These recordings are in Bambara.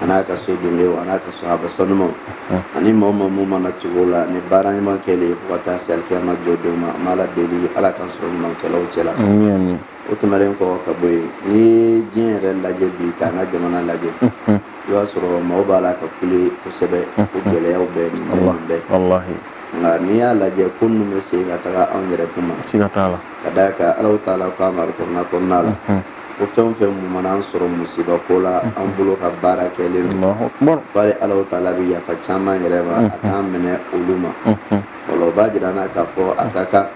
a n'a ka so dondenw a n'a ka sahaba sanumaw ani maa maa mun mana tugu o la ni baara ɲuman kɛli ye fo ka taa se alikiyama jɔ don ma an b'ala deli ala k'an sɔrɔ ɲumankɛlaw cɛla o tɛmɛlen kɔ ka bɔ yen n'i ye diɲɛ yɛrɛ lajɛ bi k'an ka jamana lajɛ i b'a sɔrɔ maaw b'a la ka kule kosɛbɛ ko gɛlɛyaw bɛ nin bɛɛ nka n'i y'a lajɛ ko ninnu bɛ segin ka taga anw yɛrɛ kun ma siga t'a la ka d'a kan Alahu taala k'an ma alikurana kɔnɔna la ko fɛn fɛn mun mana an sɔrɔ musiba ko la an bolo ka baara kɛlen don bari Alahu taala bɛ yafa caman yɛrɛ ma a t'an minɛ olu ma wala o b'a jira an na k'a fɔ a ka kan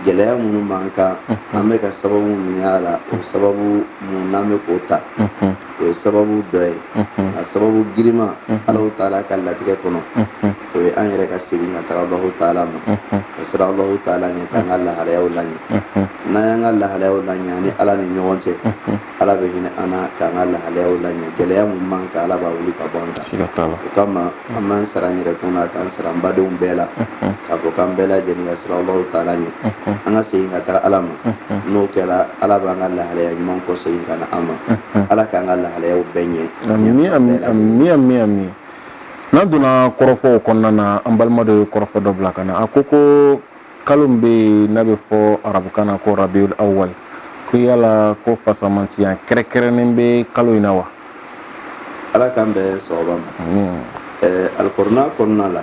gɛlɛya minnu b'an kan an bɛɛ ka sababu ɲini a la o sababu mun n'an bɛ k'o ta o ye sababu dɔ ye a sababu girinman Alahu taala ka latigɛ kɔnɔ o ye an yɛrɛ ka segin ka taga Alahu taala ma ka siran Alahu taala ɲɛ k'an ka lahalayaw laɲɛ n'an y'an ka lahalayaw laɲɛ an ni Ala ni ɲɔgɔn cɛ Ala bɛ hinɛ an na k'an ka lahalayaw laɲɛ gɛlɛya min b'an kan Ala b'a wuli ka bɔ an kan o kama an b'an sara an yɛrɛ kun na k'an sara an badenw bɛɛ la k'a fɔ k'an bɛɛ lajɛlen ka siran Alahu taala ɲɛ an ka segin ka taga Ala ma n'o kɛra Ala b'an ka lahalaya ɲuman kɔsegin ka na an ma Ala k'an ka lahalayaw bɛɛ ɲɛ. Ami ami ami ami ami. n'an donna kɔrɔfɔw kɔnɔna na an balima dɔ ye kɔrɔfɔ dɔ bila ka na a ko ko kalo min bɛ yen n'a bɛ fɔ arabukan na ko rabiul awal ko yala ko fasamantiya kɛrɛnkɛrɛnnen bɛ kalo in na wa ala k'an bɛn sawaba ma alikurana kɔnɔna la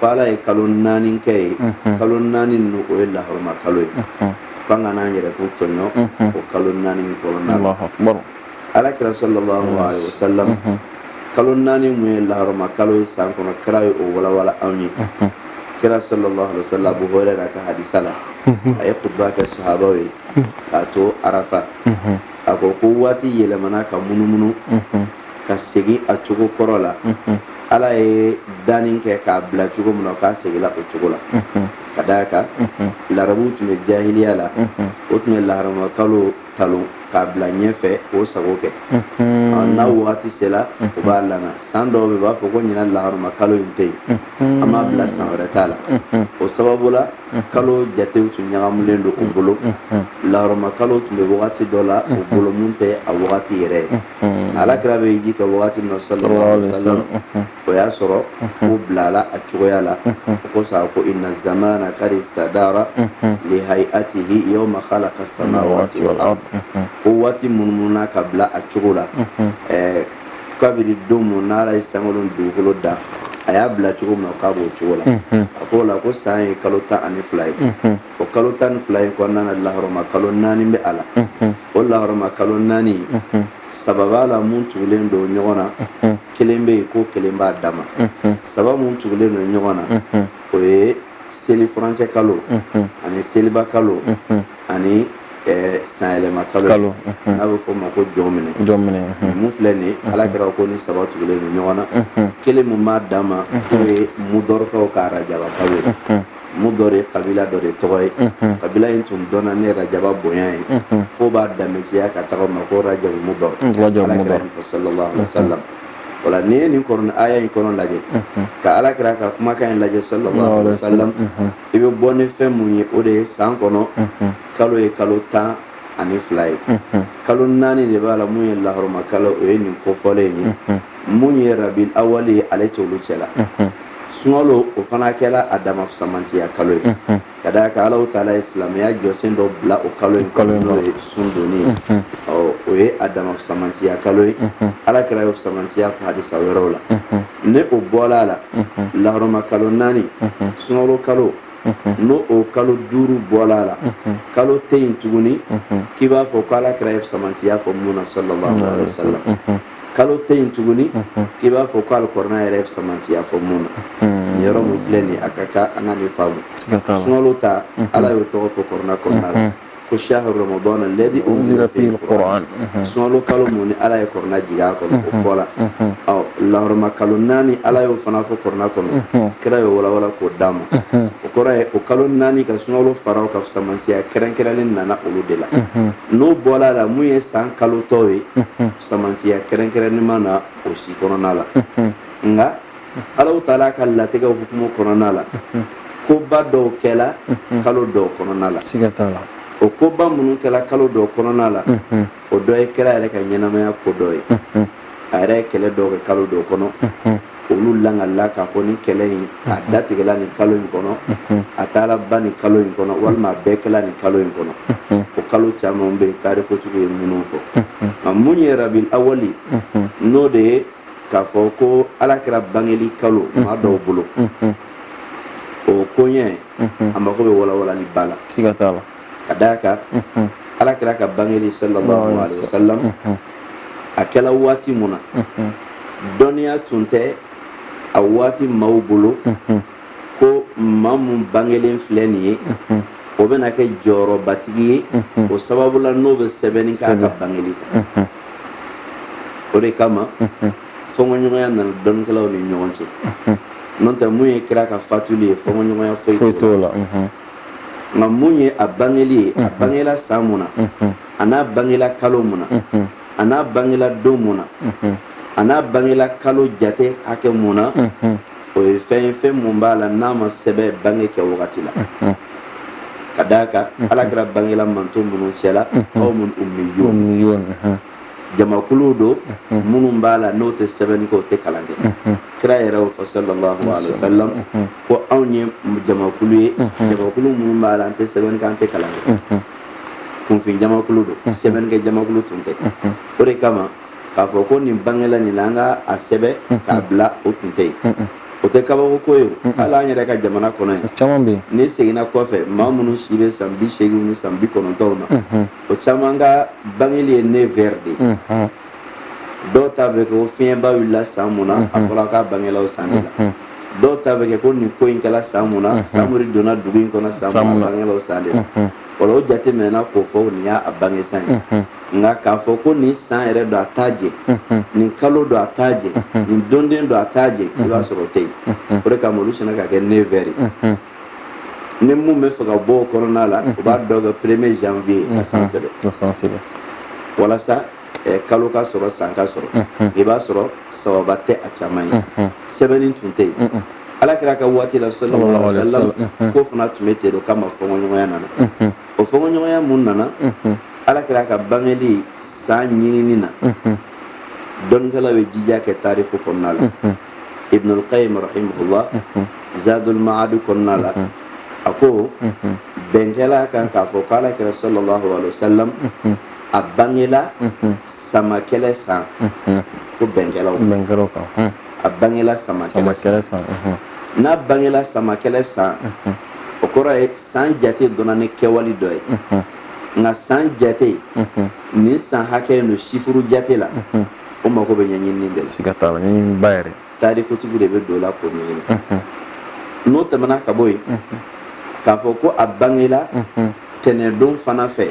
ko ala ye kalo naani kɛ ye kalo naani ninnu o ye laharama kalo ye ko an kana an yɛrɛ kun tɔɲɔ o kalo naani in kɔnɔna na ala kira sallallahu alaihi wasallam kalo naani mun ye laharama kalo ye san kɔnɔ kira ye o walawala anw ye kira sallallahu alaihi wasallam Abu Huraira ka hadisa la a ye khutba kɛ sahabaw ye k'a to arafa a ko ko waati yɛlɛmana ka munumunu ka segin a cogo kɔrɔ la ala ye danni kɛ k'a bila cogo min na k'a seginla o cogo la ka d'a kan larabuw tun bɛ jahiliya la o tun bɛ laharama kalo talon k'a bila ɲɛfɛ k'o sago kɛ n'a wagati sela o b'a lana san dɔw bɛ b'a fɔ ko ɲinan laharama kalo in tɛ yen an b'a bila san wɛrɛ ta la o sababu la kalo jatew tun ɲagamulen don u bolo laharama kalo tun bɛ wagati dɔ la u bolo min tɛ a wagati yɛrɛ ye Hmm. ala kira bɛ hiji kɛ wagati min na sallallahu alaihi wasallam hmm. o y'a sɔrɔ hmm. ko bilala a cogoya la o kosɔn a ko inna zamana qad istadara li hayatihi yawma khalaqa samawati wal ard ko waati munumuna ka bila a cogo la eh, kabiri don mun n'ala ye sankolo ni dugukolo dan a y'a bila cogo min na k'a b'o cogo la a k'o la ko san ye kalo tan ani fila ye o kalo tan ni fila in kɔnɔna na lahɔrɔma kalo naani bɛ a la o lahɔrɔma kalo naani saba b'a la mun tugulen don ɲɔgɔn na kelen bɛ yen ko kelen b'a dama saba mun tugulen don ɲɔgɔn na o ye seli furancɛ kalo ani seliba kalo ani eh, sanyɛlɛma kalo n'a bɛ fɔ o ma ko jɔminɛ mun filɛ nin ala kira ko nin saba tugulen don ɲɔgɔn na kelen mun b'a dama o ye mudɔrɔkaw ka arajaba kalo ye mudɔr ye kabila dɔ de tɔgɔ ye kabila in tun dɔnna ni rajaba bonya ye fo b'a danbetiya ka taga ma ko rajabu mudɔr ala kira nin fɔ sallallahu alaihi wasallam wala n'i ye nin kɔrɔna aya in kɔnɔ lajɛ ka ala kira ka kumakan in lajɛ sallallahu alaihi wasallam i bɛ bɔ ni fɛn mun ye o de ye san kɔnɔ kalo ye kalo tan ani fila ye kalo naani de b'a la mun ye lahɔrɔma kalo o ye nin kofɔlen ye mun ye rabil awali ye ale t'olu cɛ la sunkalo o fana kɛla a dama fisamantiya kalo ye ka d'a kan alahu taala ye silamɛya jɔsen dɔ bila o kalo in kɔnɔ n'o ye sun donni ye ɔ o ye a dama fisamantiya kalo ye ala kira y'o fisamantiya fɔ hadisa wɛrɛw la ni o bɔla a la lahɔrɔma kalo naani sunkalo kalo n'o o kalo duuru bɔla a la kalo tɛ yen tuguni k'i b'a fɔ ko ala kira ye fisamantiya fɔ mun na sallallahu alaihi wasallam kalo tɛ yen tuguni k'i b'a fɔ k'alikɔrɔna yɛrɛ fisamantiya fɔ mun na nin yɔrɔ mun filɛ nin a ka kan an ka nin faamu sunkalo ta ala y'o tɔgɔ fɔ kɔrɔna kɔnɔna la ko shahru ramadan alladhi unzila fihi alquran sunkalo kalo mun ni ala ye kɔrɔna jigin a kɔnɔ o fɔla ɔ lahɔrɔma kalo naani ala y'o fana fɔ kɔrɔna kɔnɔ kira y'o walawala k'o d'an ma o kɔrɔ ye o kalo naani ka sunkalo far'u kan fisamantiya kɛrɛnkɛrɛnlen nana olu de la n'o bɔla la mun ye san kalo tɔw ye fisamantiya kɛrɛnkɛrɛnnen ma na o si kɔnɔna la nka alahu taala ka latigɛ hukumu kɔnɔna la koba dɔw kɛla kalo dɔw kɔnɔna la o koba minnu kɛla kalo dɔw kɔnɔna la o dɔ ye kira yɛrɛ ka ɲɛnamaya ko dɔ ye a yɛrɛ ye kɛlɛ dɔw kɛ kalo dɔw kɔnɔ olu lakalila k'a fɔ nin kɛlɛ in a datigɛla nin kalo in kɔnɔ a taara ban nin kalo in kɔnɔ walima a bɛɛ kɛla nin kalo in kɔnɔ o kalo caman bɛ yen tarikutigiw ye minnu fɔ nka mun ye rabil awali n'o de ye k'a fɔ ko ala kira bangeli kalo maa dɔw bolo o koɲɛ a mako bɛ walawalali ba la ka d'a kan ala kira ka bangeli sallallahu alaihi wasallam a kɛla waati mun na dɔnniya tun tɛ a waati maaw bolo ko maa mun bangelen filɛ nin ye o bɛna kɛ jɔyɔrɔbatigi ye o sababu la n'o bɛ sɛbɛnni k'a ka bangeli kan o de kama fɔnkɔɲɔgɔnya nana dɔnnikɛlaw ni ɲɔgɔn cɛ n'o tɛ mun ye kira ka fatuli ye fɔnkɔɲɔgɔnya foyi t'o la nka mun ye a bangeli ye a bangela san mun na a n'a bangela kalo mun na a n'a bangela don mun na a n'a bangela kalo jate hakɛ mun na o ye fɛn ye fɛn mun b'a la n'a ma sɛbɛn bange kɛ wagati la ka d'a kan ala kira bangela manto minnu cɛla qawmun ummiyun jamakuluw don minnu b'a la n'o tɛ sɛbɛnni kɛ o tɛ kalan kɛ kira yɛrɛ y'o fɔ sallallahu alaihi wa sallam ko anw ye jamakulu ye jamakulu minnu b'a la an tɛ sɛbɛnni kɛ an tɛ kalan kɛ kunfin jamakulu don sɛbɛnni kɛ jamakulu tun tɛ o de kama k'a fɔ ko nin bangela nin la an ka a sɛbɛn k'a bila o tun tɛ yen o tɛ kabako ko ye hali an yɛrɛ ka jamana kɔnɔ yan caman bɛ yen n'i seginna kɔfɛ maa minnu si bɛ san bi seegin ni san bi kɔnɔntɔnw na o caman ka bangeli ye né vers de ye dɔw ta bɛ kɛ ko fiɲɛba wulila san mun na a fɔra k'a bangela o san de la dɔw ta bɛ kɛ ko nin ko in kɛla san mun na samori donna dugu in kɔnɔ san mun na a bangela o san de la wala o jate minɛna k'o fɔ nin y'a a bange san ye nka k'a fɔ ko nin san yɛrɛ don a t'a jɛ nin kalo don a t'a jɛ nin don de don a t'a jɛ i b'a sɔrɔ o tɛ yen o de kama olu sinna ka kɛ né vers ni mun bɛ fɛ ka bɔ o kɔnɔna la u b'a don kɛ premier janvier ka san sɛbɛn walasa kalo ka sɔrɔ san ka sɔrɔ i b'a sɔrɔ sababu tɛ a caman ye sɛbɛnni tun tɛ yen ala kira ka waati la sallallahu alaihi wasallam ko fana tun bɛ ten de o kama fɔɲɔgɔnya nana o fɔɲɔgɔnya mun nana ala kira ka bangeli san ɲinini na dɔnnikɛlaw ye jija kɛ tariku kɔnɔna la ibn al-qayyim rahimahullah zadul ma'ad kɔnɔna la a ko bɛn kɛla a kan k'a fɔ k'ala kira sallallahu alaihi wasallam a bangela samakɛlɛ san ko bɛn kɛla a kan a bangela samakɛlɛ san n'a bangela samakɛlɛ san o kɔrɔ ye san jate dɔnna ni kɛwali dɔ ye nka san jate nin san hakɛ don sifuru jate la o mago bɛ ɲɛɲini de la siga t'a la ɲɛɲiniba yɛrɛ tarikutigiw de bɛ don o la k'o ɲɛɲini n'o tɛmɛna ka bɔ yen k'a fɔ ko a bangela tɛnɛdon fana fɛ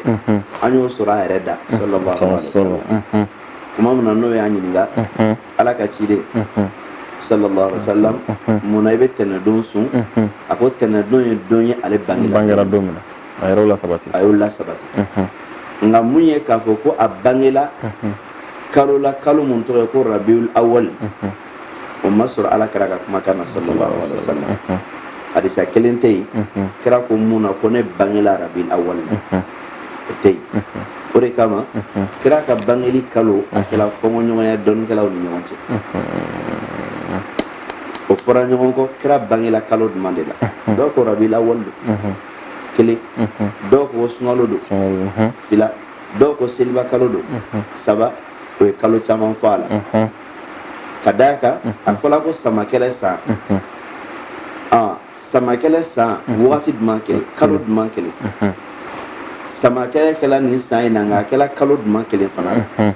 an y'o sɔrɔ a yɛrɛ da sallallahu kuma min na n'o y'a ɲininka ala ka ciden sallallahu alaihi wasallam mun na i bɛ tɛnɛdon sun a ko tɛnɛdon ye don ye ale bangela bangela don min na a yɛrɛ y'o lasabati a y'o lasabati nka mun ye k'a fɔ ko a bangela kalo la kalo mun tɔgɔ ye ko rabiul awal o ma sɔrɔ ala kira ka kumakan na sallallahu alaihi wasallam hadisa kelen tɛ yen kira ko mun na ko ne bangela rabiul awal la o tɛ yen o de kama kira ka bangeli kalo a kɛra fɔnkɔɲɔgɔnya dɔnnikɛlaw ni ɲɔgɔn cɛ u fɔra ɲɔgɔn kɔ kira bangela kalo jumɛn de la dɔw ko rabiul awal don kelen dɔw ko sunkalo don fila dɔw ko seliba kalo don saba u ye kalo caman fɔ a la ka d'a kan a fɔla ko samakɛlɛ san samakɛlɛ san wagati jumɛn kelen kalo jumɛn kelen samakɛlɛ kɛla nin san in na nka a kɛla kalo jumɛn kelen fana la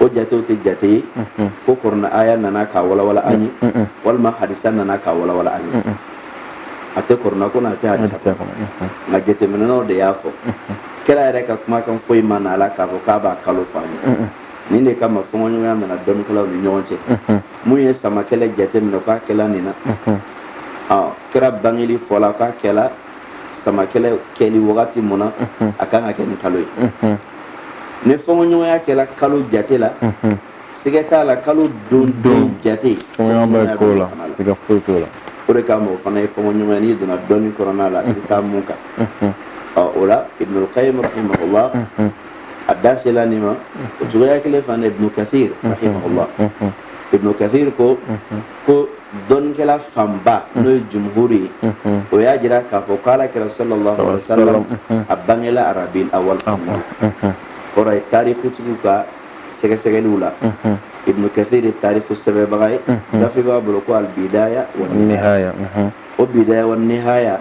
o jate o tɛ jate ye ko kɔrɔna aya nana k'a walawala an ye walima hadisa nana k'a walawala an ye a tɛ kɔrɔna kɔnɔ a tɛ hadisa kɔnɔ nka jateminɛnaw de y'a fɔ kira yɛrɛ ka kumakan foyi ma na a la k'a fɔ k'a b'a kalo fɔ an ye nin de kama fɔɲɔgɔnya nana dɔnnikɛlaw ni ɲɔgɔn cɛ mun ye samakɛlɛ jate minɛ k'a kɛla nin na kira bangeli fɔla k'a kɛla samakɛlɛ kɛli wagati mun na a kan ka kɛ nin kalo ye ni fɔɲɔgɔnya kɛla kalo jate la siga t'a la kalo don don jate fɔɲɔgɔnya bɛ k'o la siga foyi t'o la o de kama o fana ye fɔɲɔgɔnya ye n'i donna dɔnni kɔnɔna la i bɛ taa mun kan ɔ o la ibnu qayyim rahimahullah a da sela nin ma o cogoya kelen fana ibnu kathir rahimahullah ibnu kathir ko ko dɔnnikɛla fanba n'o ye jumhur ye o y'a jira k'a fɔ ko ala kira sallallahu alaihi wasallam a bangela rabiul awal kɔrɔ ye tarikutigiw ka sɛgɛsɛgɛliw la ibnu kathir ye tariku sɛbɛnbaga ye gafe b'a bolo ko albidaya wa nihaya o bidaya wa nihaya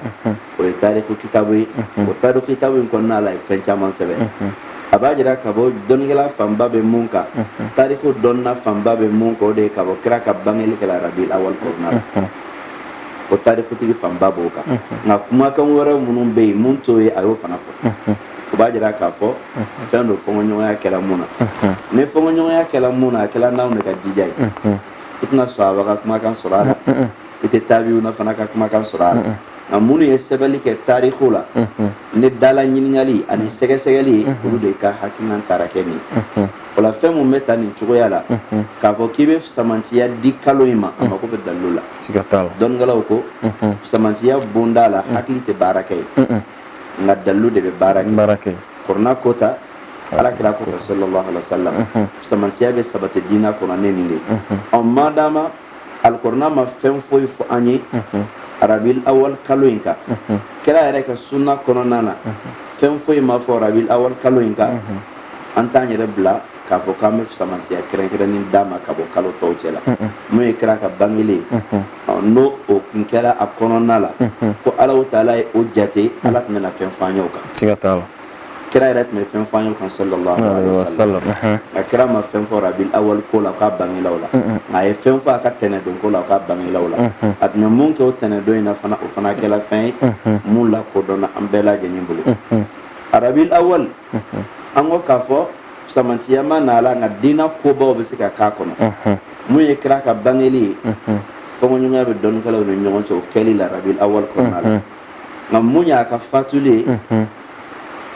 o ye tariku kitabu ye o tariku kitabu in kɔnɔna la a ye fɛn caman sɛbɛn a b'a jira k'a fɔ dɔnnikɛla fanba bɛ mun kan tariku dɔnna fanba bɛ mun kan o de ye k'a fɔ kira ka bangeli kɛla rabiul awal kɔnɔna la o tarikutigi fanba b'o kan nka kumakan wɛrɛ minnu bɛ yen mun t'o ye a y'o fana fɔ o b'a jira k'a fɔ fɛn don fɔɲɔgɔnya kɛla mun na ni fɔɲɔgɔnya kɛla mun na a kɛla n'anw de ka jija ye i tɛna sahaba ka kumakan sɔrɔ a la i tɛ tabiuna fana ka kumakan sɔrɔ a la nka minnu ye sɛbɛnni kɛ tariku la ni dala ɲininkali ani sɛgɛsɛgɛli ye olu de ka hakilinan taara kɛ nin ye o la fɛn min bɛ taa nin cogoya la k'a fɔ k'i bɛ samantiya di kalo in ma a mako bɛ dalilu la dɔnnikɛlaw ko samantiya bonda la hakili tɛ baara kɛ yen nka dalilu de bɛ baara kɛ kɔrɔna ko tan ala kira ko tan sallallahu alaihi wasallam fisamansiya bɛ sabati diina kɔnɔ ni nin de ɔ madama alikɔrɔna ma fɛn foyi fɔ an ye arabil awal kalo in kan kira yɛrɛ ka sunna kɔnɔna na fɛn foyi ma fɔ arabil awal kalo in kan an t'an yɛrɛ bila k'a fɔ k'an bɛ fisamansiya kɛrɛnkɛrɛnnin d'a ma ka bɔ kalo tɔw cɛ la mun ye kira ka bangeli ye n'o o kun kɛra a kɔnɔna la ko ala taala ye o jate ala tun bɛna fɛn fɔ an ye o kan siga t'a la kira yɛrɛ tun bɛ fɛn fɔ an ye o kan sallallahu alaihi wasallam nka kira ma fɛn fɔ arabil awal ko la k'a bangela o la nka a ye fɛn fɔ a ka tɛnɛndon ko la k'a bangela o la a tun bɛ mun kɛ o tɛnɛndon in na fana o fana kɛla fɛn ye mun lakodɔnna an bɛɛ lajɛlen bolo arabil awal an ko k'a fɔ fisamantiya ma n'a la nka diina kobaw bɛ se ka k'a kɔnɔ mun ye kira ka bangeli ye fɔnkɔɲɔgɔnya bɛ dɔnnikɛlaw ni ɲɔgɔn cɛ o kɛli la rabil awal kɔnɔna la nka mun y'a ka fatuli ye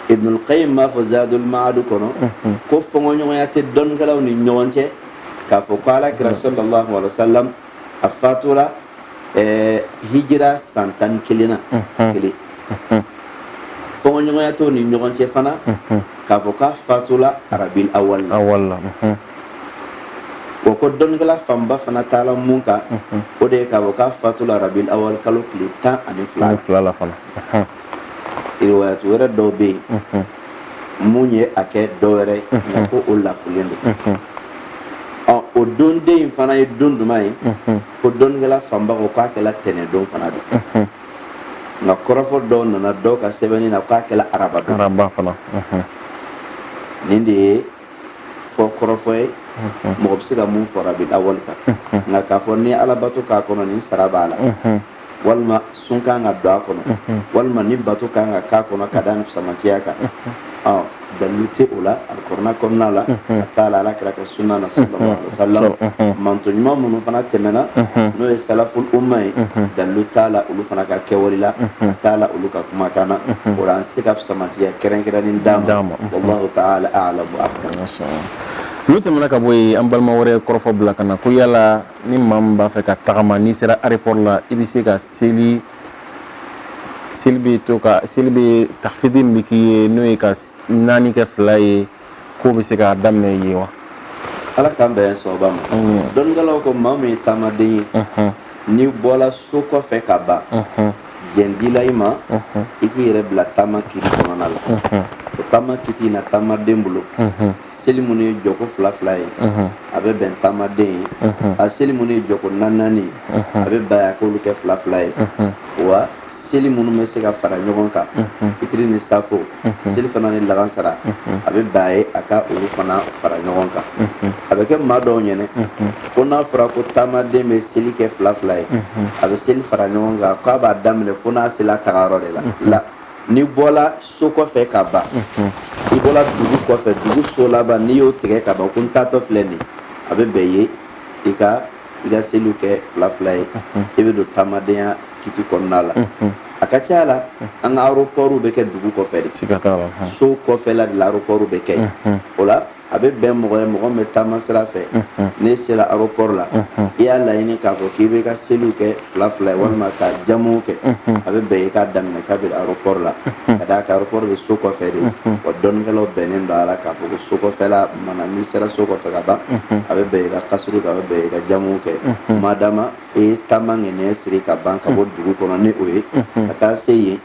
ibnul qayyim b'a fɔ zadul maadu kɔnɔ ko fɔnkɔɲɔgɔnya tɛ dɔnnikɛlaw ni ɲɔgɔn cɛ k'a fɔ ko ala kira sallallahu alaihi wa sallam a fatula eh, hijira san tan ni kelen na mhm. kelen mhm. fɔnkɔɲɔgɔnya t'o ni ɲɔgɔn cɛ fana mhm. k'a fɔ k'a fatula arabil awal la wa ko dɔnnikɛla fanba fana taala mun kan o de ye k'a fɔ k'a fatula arabil awal kalo tile tan ani fila la fana riwayatu wɛrɛ dɔw bɛ yen mun ye a kɛ dɔ wɛrɛ ye nka ko o lafulen don ɔ o don den in fana ye don juman ye ko dɔnnikɛla fanba ko k'a kɛla tɛnɛdon fana don nka kɔrɔfɔ dɔw nana dɔw ka sɛbɛnni na k'a kɛla araba don fana nin de ye fɔ kɔrɔfɔ ye mɔgɔ bɛ se ka mun fɔ arabil awal kan nka k'a fɔ ni alabato k'a kɔnɔ nin sara b'a la walima sun kan ka don a kɔnɔ walima ni bato kan ka k'a kɔnɔ ka da ni fisamatiya kan dalilu tɛ o la alikɔrɔna kɔnɔna la a t'a la ala kira ka sunna na sallallahu alaihi wasallam mantɔn ɲuman minnu fana tɛmɛna n'o ye salaful umma ye dalilu t'a la olu fana ka kɛwale la a t'a la olu ka kumakan na o la an tɛ se ka fisamatiya kɛrɛnkɛrɛnnen d'a ma wallahu ta'ala a'lamu abada n'o tɛmɛna ka bɔ yen an balima wɛrɛ kɔrɔfɔ bila ka na ko yala ni maa min b'a fɛ ka tagama n'i sera aéroport la i bɛ se ka seli seli bɛ tafidi min bɛ k'i ye n'o ye ka naani kɛ fila ye k'o bɛ se k'a daminɛ yen wa ala k'an bɛn sawaba ma dɔnnikɛlaw ko maa min ye taamaden ye n'i bɔra so kɔfɛ ka ban jɛn dila i ma i k'i yɛrɛ bila taama kiri kɔnɔna la o taama kiti na taamaden bolo seli minnu ye jɔko fila fila ye a bɛ bɛn taamaden ye a seli minnu ye jɔko naani a bɛ bɛn a ye a k'olu kɛ fila fila ye wa seli minnu bɛ se ka fara ɲɔgɔn kan fitiri ni safo selifana ni lagansara a bɛ bɛn a ye a ka olu fana fara ɲɔgɔn kan a bɛ kɛ maa dɔw ɲɛna ko n'a fɔra ko taamaden bɛ seli kɛ fila fila ye a bɛ seli fara ɲɔgɔn kan k'a b'a daminɛ fo n'a sela tagayɔrɔ de la n'i bɔla so kɔfɛ ka ban i bɔra dugu kɔfɛ dugu so laban n'i y'o tigɛ ka ban ko n taatɔ filɛ nin a bɛ bɛn i ye i ka i ka seliw kɛ fila fila ye i bɛ don taamadenya kiti kɔnɔna la a ka ca la an ka aropɔriw bɛ kɛ dugu kɔfɛ de so kɔfɛ la de la aropɔriw bɛ kɛ yen o la a bɛ bɛn mɔgɔ ye mɔgɔ min bɛ taama sira fɛ n'i sera aropɔri la i y'a laɲini k'a fɔ k'i bɛ ka seliw kɛ fila fila ye walima ka jamu kɛ a bɛ bɛn i k'a daminɛ kabini aropɔri la ka d'a kan aropɔri bɛ so kɔfɛ de wa dɔnnikɛlaw bɛnnen don a la k'a fɔ ko so kɔfɛla mana n'i sera so kɔfɛ ka ban a bɛ bɛn i ka kasuru kɛ a bɛ bɛn i ka jamu kɛ madama i ye taama ŋaniya siri ka ban ka bɔ dugu kɔnɔ ni o ye ka taa se yen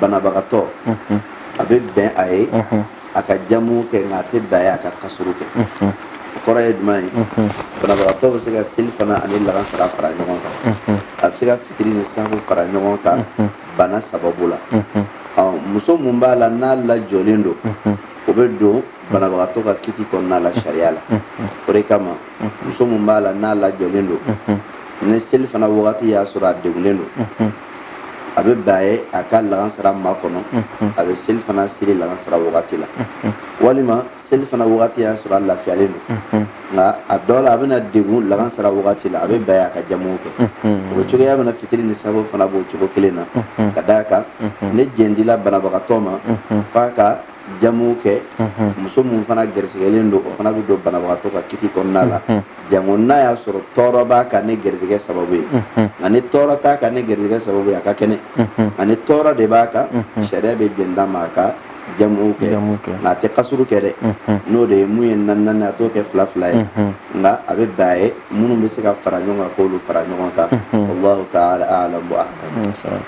banabagatɔ a bɛ bɛn a ye a ka jamu kɛ nka a tɛ bɛn a ye a ka kasuru kɛ o kɔrɔ ye jumɛn ye banabagatɔ bɛ se ka selifana ani lagansara fara ɲɔgɔn kan a bɛ se ka fitiri ni safo fara ɲɔgɔn kan bana sababu la muso min b'a la n'a lajɔlen don o bɛ don banabagatɔ ka kiti kɔnɔna la sariya la o de kama muso min b'a la n'a lajɔlen don ni selifana wagati y'a sɔrɔ a degunnen don a bɛ bɛn a ye a ka lagansara makɔnɔ a bɛ selifana siri lagansara wagati la walima selifana wagati y'a sɔrɔ a lafiyalen don nka a dɔ la a bɛna degun lagansara wagati la a bɛ bɛn a ye a ka jamu kɛ o cogoya bɛna fitiri ni safo fana b'o cogo kelen na ka d'a kan ni jɛn dila banabagatɔ ma k'a ka jamu kɛ muso min fana garisɛgɛlen don o fana bɛ don banabagatɔ ka kiti kɔnɔna la jango n'a y'a sɔrɔ tɔɔrɔ b'a kan ni garisɛgɛ sababu ye nka ni tɔɔrɔ t'a kan ni garisɛgɛ sababu ye a ka kɛnɛ nka ni tɔɔrɔ de b'a kan sariya bɛ jɛn d'a ma a ka jamu kɛ nka a tɛ kasuru kɛ dɛ n'o de ye min ye naani a t'o kɛ fila fila ye nka a bɛ bɛn a ye minnu bɛ se ka fara ɲɔgɔn kan k'olu fara ɲɔgɔn kan wallahu ta'ala a'lam wa ahkam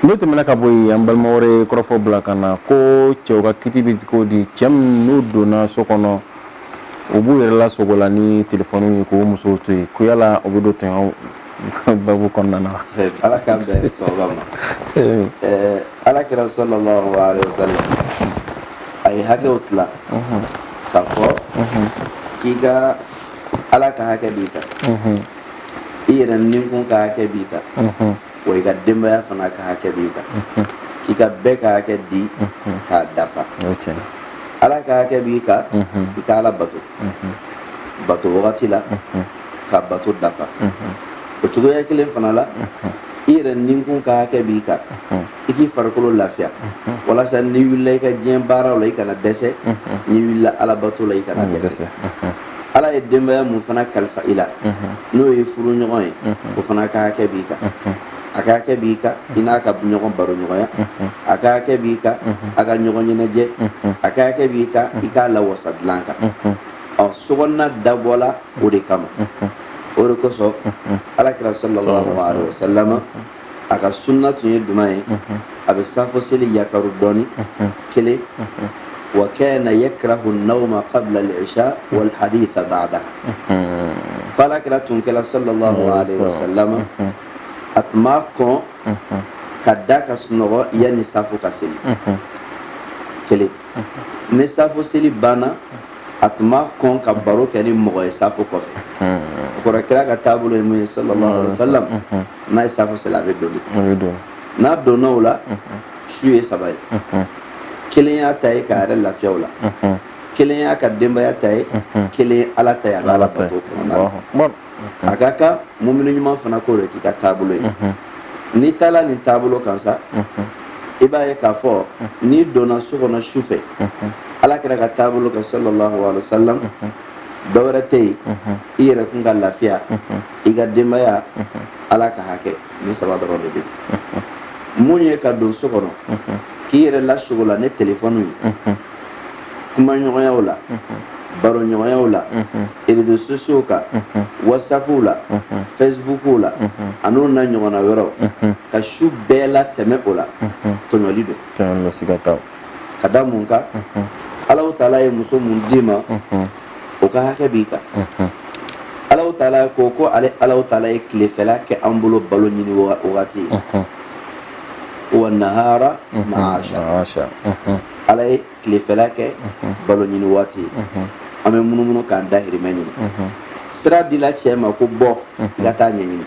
n'o tɛmɛna ka bɔ yen an balima wɛrɛ ye kɔrɔfɔ bila ka na ko cɛw ka kiti bɛ cogo di cɛ min n'u donna so kɔnɔ u b'u yɛrɛ lasogola ni telefɔniw ye k'u musow to yen ko yala o bɛ don tɔɲɔ babu kɔnɔna na wa ala k'an bɛn sababa ma ala kira sallallahu alaihi wasallam a ye hakɛw tila k'a fɔ k'i ka ala ka hakɛ b'i kan i yɛrɛ ninkun ka hakɛ b'i kan wa i ka denbaya fana ka hakɛ b'i kan k'i ka bɛɛ ka hakɛ di k'a dafa ala ka hakɛ b'i kan i ka ala bato bato wagati la k'a bato dafa o cogoya kelen fana la i yɛrɛ ninkun ka hakɛ b'i kan i k'i farikolo lafiya walasa n'i wulila i ka diɲɛ baaraw la i kana dɛsɛ n'i wulila alabato la i kana dɛsɛ ala ye denbaya mun fana kalifa i la n'o ye i furu ɲɔgɔn ye o fana ka hakɛ b'i kan a ka hakɛ b'i kan i n'a ka ɲɔgɔn baro ɲɔgɔnya a ka hakɛ b'i kan a ka ɲɔgɔn ɲɛnajɛ a ka hakɛ b'i kan i k'a lawasa dilan kan ɔ sokɔnɔna dabɔla o de kama o de kosɔn ala kira sallallahu alaihi wasallam a ka sunna tun ye duman ye a bɛ safo seli yakaru dɔɔni kelen wa kana yakrahu nawma qabla al-isha wal haditha ba'daha ala kira tun kɛla sallallahu alaihi wasallam a tun b'a kɔn ka da ka sunɔgɔ yanni safo ka seli kelen ni safo seli banna a tun b'a kɔn ka baro kɛ ni mɔgɔ ye safo kɔfɛ o kɔrɔ kira ka taabolo ye mun ye sallallahu alaihi wasallam n'a ye safo seli a bɛ don le n'a donna o la su ye saba ye kelen y'a ta ye k'a yɛrɛ lafiya o la kelen y'a ka denbaya ta ye kelen ye ala ta ye a b'ala bato kɔnɔna a ka kan mumini ɲuman fana k'o de k'i ka taabolo ye n'i taala nin taabolo kan sa i b'a ye k'a fɔ n'i donna so kɔnɔ su fɛ ala kira ka taabolo kan sallallahu alaihi wasallam dɔ wɛrɛ tɛ yen i yɛrɛ kun ka lafiya i ka denbaya ala ka hakɛ nin saba dɔrɔn de bɛ mun ye ka don so kɔnɔ k'i yɛrɛ lasogo la ni telefɔni ye kuma ɲɔgɔnyaw la baro ɲɔgɔnyaw la réseaux sociaux kan whatsappw la facebookw la an'o na ɲɔgɔnna wɛrɛw ka su bɛɛ latɛmɛ o la tɔɲɔli don ka da mun kan alahu taala ye muso mun d'i ma o ka hakɛ b'i kan alahu taala ko ko ale alahu taala ye tilefɛla kɛ an bolo balo ɲini wagati ye wa nahara maasha ala ye tilefɛla kɛ balo ɲini waati ye an bɛ munumunu k'an dahirimɛ ɲini sira dila cɛ ma ko bɔ i ka taa ɲɛɲini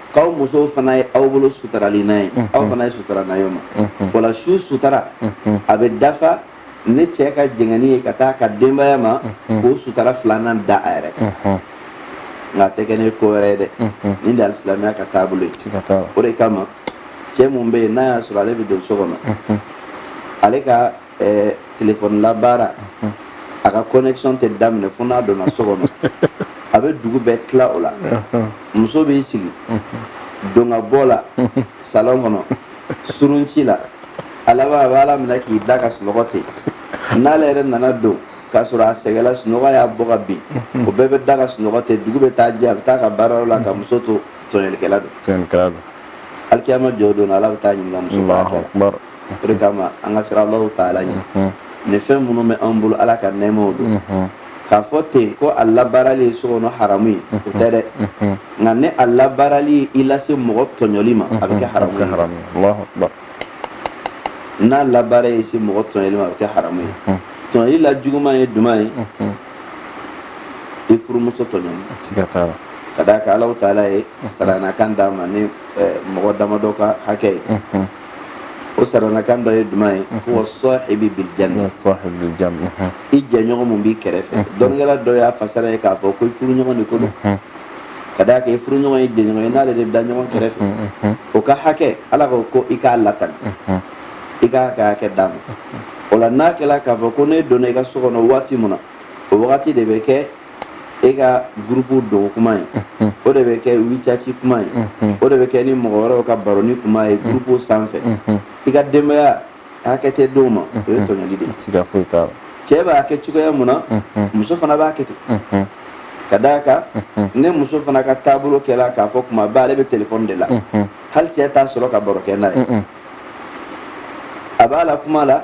k'aw musow fana ye aw bolo sutaralinan ye aw fana ye sutaranan ye ma wala su sutara a bɛ dafa ni cɛ ka jɛngɛni ye ka taa ka denbaya ma k'o sutara filanan da a yɛrɛ kan nka a tɛ kɛ ni ko wɛrɛ ye dɛ nin de alisilamɛya ka taabolo ye o de kama cɛ mun bɛ yen n'a y'a sɔrɔ ale bɛ don so kɔnɔ ale ka ɛɛ telefɔni labaara a ka connexion tɛ daminɛ fo n'a donna so kɔnɔ a bɛ dugu bɛɛ tila o la muso b'i sigi dongabɔ la salon kɔnɔ surunci la a laban a bɛ ala minɛ k'i da ka sunɔgɔ ten n'ale yɛrɛ nana don k'a sɔrɔ a sɛgɛnna sunɔgɔ y'a bɔ ka bin o bɛɛ bɛ da ka sunɔgɔ ten dugu bɛ taa jɛ a bɛ taa a ka baarayɔrɔ la ka muso to tɔɲɔlikɛla don alikiyama jɔdon na ala bɛ t'a ɲininka muso ka hakɛ la o de kama an ka siran Alahu taala ɲɛ nin fɛn minnu bɛ anw bolo Ala ka nɛɛmaw don k'a fɔ ten ko a labaarali ye so kɔnɔ haramu ye o tɛ dɛ nka ni a labaarali y'i lase mɔgɔ tɔɲɔli ma a bɛ kɛ haramu ye n'a labaara y'i se mɔgɔ tɔɲɔli ma a bɛ kɛ haramu ye tɔɲɔli la juguman ye jumɛn ye i furumuso tɔɲɔli ka d'a kan Alahu taala ye saranakan d'a ma ni mɔgɔ damadɔ ka hakɛ ye o saranakan dɔ ye jumɛn ye ko wa sahibi bil janbi sahibi bil janbi i jɛɲɔgɔn mun b'i kɛrɛfɛ dɔnnikɛla dɔ y'a fasara ye k'a fɔ ko i furuɲɔgɔn de ko don ka d'a kan i furuɲɔgɔn y'i jɛɲɔgɔn ye n'ale de bɛ da ɲɔgɔn kɛrɛfɛ o ka hakɛ ala ko ko i k'a latanga i k'a ka hakɛ d'a ma o la n'a kɛra k'a fɔ ko n'e donna i ka so kɔnɔ waati mun na o wagati de bɛ kɛ e ka gurupu don kuma ye o de bɛ kɛ wicasi kuma ye o de bɛ kɛ ni mɔgɔ wɛrɛw ka baroni kuma ye gurupu sanfɛ i ka denbaya hakɛ tɛ d'u ma o ye tɔɲɔli de ye foyi t'a la cɛ b'a kɛ cogoya mun na muso fana b'a kɛ ten ka d'a kan ni muso fana ka taabolo kɛra k'a fɔ kuma bɛɛ ale bɛ telefɔni de la hali cɛ t'a sɔrɔ ka baro kɛ n'a ye a b'a la kuma la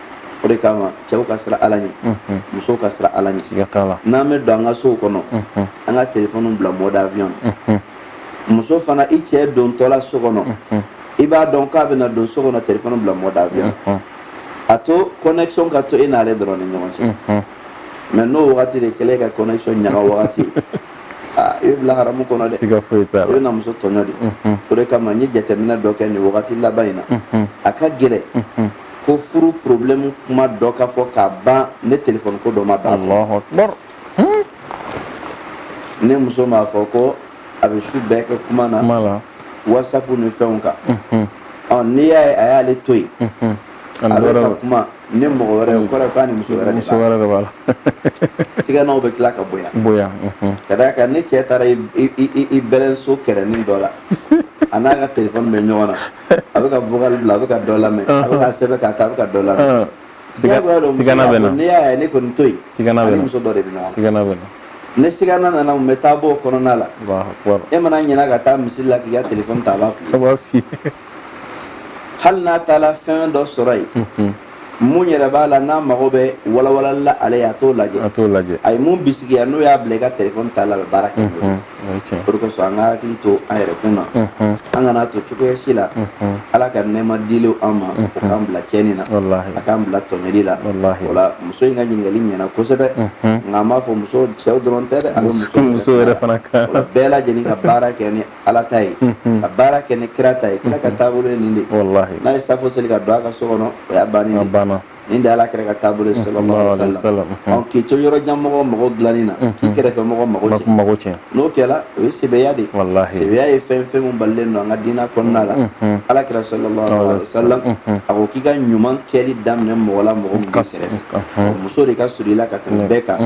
o de kama cɛw ka siran ala ɲɛ musow ka siran ala ɲɛ n'an bɛ don an ka sow kɔnɔ an ka telefɔniw bila mode avion muso fana i cɛ dontɔla so kɔnɔ i b'a dɔn k'a bɛna don so kɔnɔ telefɔni bila mode avion a to connexion ka to e n'ale dɔrɔn ni ɲɔgɔn cɛ mais n'o wagati de kɛla e ka connexion ɲaga wagati Ah, i bɛ bila haramu kɔnɔ dɛ siga foyi t'a la o bɛna muso tɔɲɔ de o de kama n ye jateminɛ dɔ kɛ nin wagati laban in na a ka gɛlɛn ko furu problème kuma dɔ ka fɔ ka ban ni telefɔni ko dɔ ma da hmm? ni muso m'a fɔ ko a bɛ su bɛɛ kɛ kuma na whatsapp ni fɛnw kan mhm. ɔ n'i y'a ye a y'ale to yen mhm. a bɛ ka kuma ni mɔgɔ wɛrɛ o kɔrɔ k'a ni muso wɛrɛ de b'a la siganaw bɛ tila ka bonya bonya mhm. ka d'a kan ni cɛ taara i bɛlɛn so kɛrɛnin dɔ la a n'a ka telefɔni bɛ ɲɔgɔn na a bɛ ka vocal bila a bɛ ka dɔ lamɛn a bɛ ka sɛbɛn k'a ta a bɛ ka dɔ lamɛn sigana bɛ na n'i y'a ye a ye ne kɔni to yen sigana bɛ na muso dɔ de bɛ na sigana bɛ na ni sigana nana mun bɛ taa bɔ o kɔnɔna la e mana ɲinɛ ka taa misiri la k'i ka telefɔni to a b'a fouiller hali n'a taara fɛn dɔ sɔrɔ yen mun yɛrɛ b'a la n'a mago bɛ walawalali la ale y'a t'o lajɛ a t'o lajɛ a ye mun bisigiya n'o y'a bila i ka telefɔni ta la a bɛ baara kɛ n'o ye o de kosɔn an ka hakili to an yɛrɛ kun na an kana to cogoya si la ala ka nɛɛma dilenw an ma o k'an bila tiɲɛni na a k'an bila tɔɲɔli la o la muso in ka ɲininkali ɲɛna kosɛbɛ nka an b'a fɔ muso cɛw dɔrɔn tɛ dɛ a bɛ muso yɛrɛ fana kan bɛɛ lajɛlen ka baara kɛ ni ala ta ye ka baara kɛ ni kira ta ye kira ka taabolo ye nin de n'a ye safo seli ka don a ka so kɔnɔ o y'a bannen de nin de ala kira ka taabolo ye sallallahu alaihi wasallam k'i to yɔrɔ jan mɔgɔ mago dilanni na k'i kɛrɛfɛ mɔgɔ mago tiɲɛ n'o kɛla o ye sebeya de ye sebeya ye fɛn fɛn min balilen don an ka diinɛ kɔnɔna la ala kira sallallahu alaihi wasallam a ko k'i ka ɲuman kɛli daminɛ mɔgɔ la mɔgɔ min b'i kɛrɛfɛ muso de ka surun i la ka tɛmɛ bɛɛ kan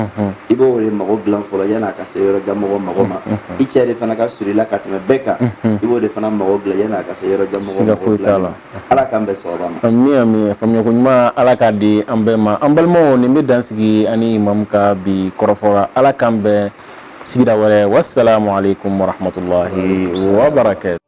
i b'o de mago dilan fɔlɔ yan'a ka se yɔrɔ jan mɔgɔ mago ma i cɛ de fana ka surun i la ka tɛmɛ bɛɛ kan i b'o de fana mago dilan yanni a ka se yɔrɔ jan mɔgɔ ma foyi t'a la ala k'an bɛn sawaba ma ami ami faamuya ko ɲuman ala k'a di an bɛɛ ma an balimaw nin bɛ dan sigi ani imamu ka bi kɔrɔfɔ ra ala k'an bɛn sigida wɛrɛ wasalaamualeykum warahmatulahi wabarakatu